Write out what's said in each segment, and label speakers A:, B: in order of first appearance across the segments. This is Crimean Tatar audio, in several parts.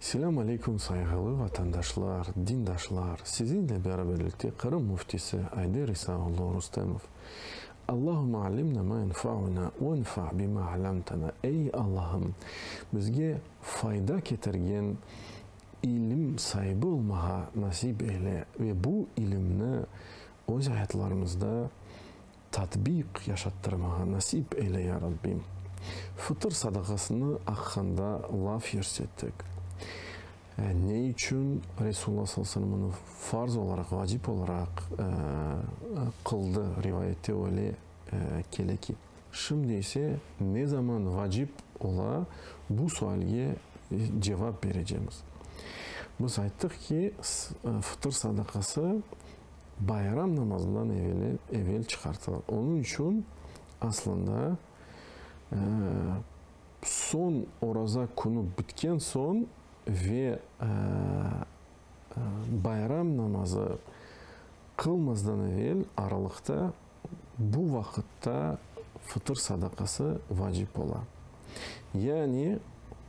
A: Selâm aleykum sayğılı vatandaşlar, dindaşlar, sizinle beraberlikte Qırım Müftisi Ayder İsa oğlu Rustemov. Allahümme alimna ma enfauna venfa bima alamtana, ey Allahım, bizge fayda ketirgen İlim saibi olmağa nasip eyle ve bu ilimni öz ayatlarımızda tatbiq yaşattırmağa nasip eyle, ya Rabbim. Fıtır sadaqasını aqqanda laf yürsettik. Ne içün Resulullah sallallahu aleyhi ve selem onı farz olaraq, vacip olaraq qıldı? Rivayette öyle kele ki. Şimdi ise ne zaman vacip ola, bu sualge cevap berecemiz. Biz ayttıq ki, fıtır sadaqası bayram namazından evel çıqartıla. Onıñ içün aslında soñ oraza künü bitken soñ ve bayram namazı qılmazdan evel aralıqta Bu vaqıtta fıtır sadaqası vacip ola. Yani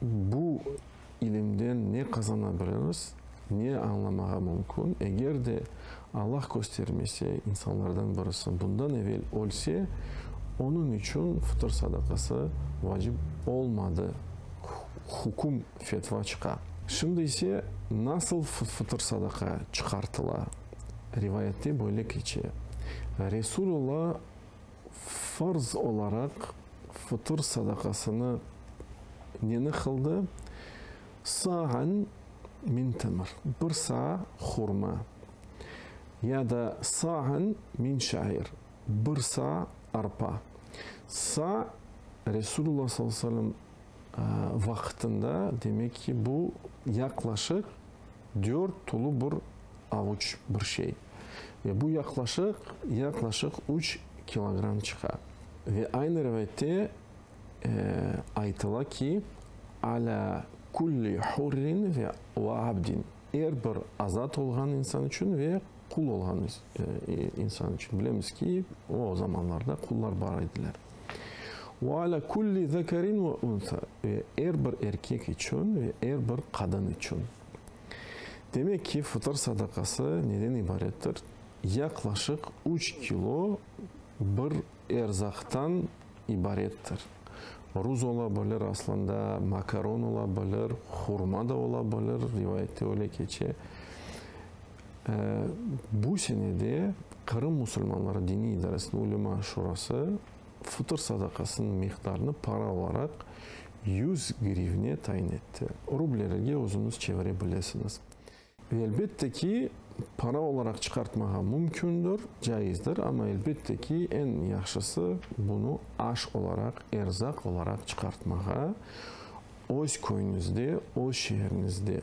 A: bu ilimden ne qazanabiliriz, ne añlamağa mümkün, eger de Allah köstermese, insanlardan birisi bundan evel ölse, onıñ içün fıtır sadaqası vacip olmadı, hüküm, fetva çıqa. Şimdi ise nasıl fıtır sadaqa çıqartıla? Rivayatte böyle keçe, Resul Alla farz olaraq fıtır sadaqasını neni qıldı? Sa'an min temr, bir sa' hurma, ya da sa'an min şa'ir, bir sa' arpa. Sa' Resul Alla sallallahu aleyhi ve sellem vaqıtında, demek ki, bu yaqlaşıq dört tulu bir avuç bir şey. Ve bu yaqlaşıq, yaqlaşıq üç kilogramm çıqa. Ve aynı rivayette aytıla ki, Alâ kulli hurrin ve abdin, er bir azat olğan insan içün ve qul olğan insan içün. Bilemiz ki, o zamanlarda qullar bar ediler. Ve alâ kulli zekerin ve unsa, ve er bir erkek içün ve er bir qadın içün. Demek ki, fıtır sadaqası neden ibarettir? Yaqlaşıq üç kilo bir erzaqtan ibarettir. Ruz ola bilir, aslında makaron ola bilir, hurma da ola bilir, rivayette öyle keçe. Bu sene de Qırım musulmanları diniy idaresiniñ ulema şurası fıtır sadaqasınıñ miqdarını para olaraq yüz grivne tayin etti. Rublelerge özüñiz çevire bilesiñiz. Ve elbette ki, para olaraq çıqartmağa mümkündir, caizdir, amma elbette ki, eñ yahşısı, bunı aş olaraq, erzaq olaraq çıqartmağa öz köyüñizde, öz şeeriñizde.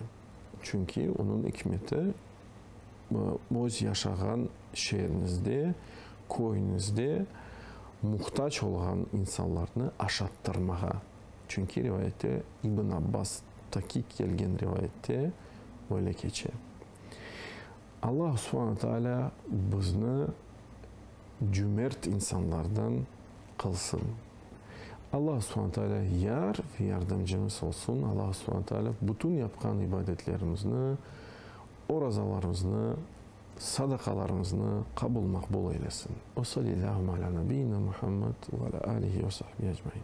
A: Çünki onıñ ikmeti, öz yaşağan şeeriñizde, köyüñizde muhtac olğan insanlarnı aşattırmağa. Çünki rivayette, İbn Abbas taqiq kelgen rivayette böyle keçe. Alla subhana taalâ bizni. cümert insanlardan qılsın. Alla Subhane Taalâ yar ve yardımcımız olsun. Alla Subhane Taalâ bütün yapqan ibadetlerimizni, orazalarımıznı, sadaqalarımıznı qabul maqbul eylesin. Ve sallillâhümme alâ nabiyyina Muhammed ve alâ âlihi ve sahbihi ecmain.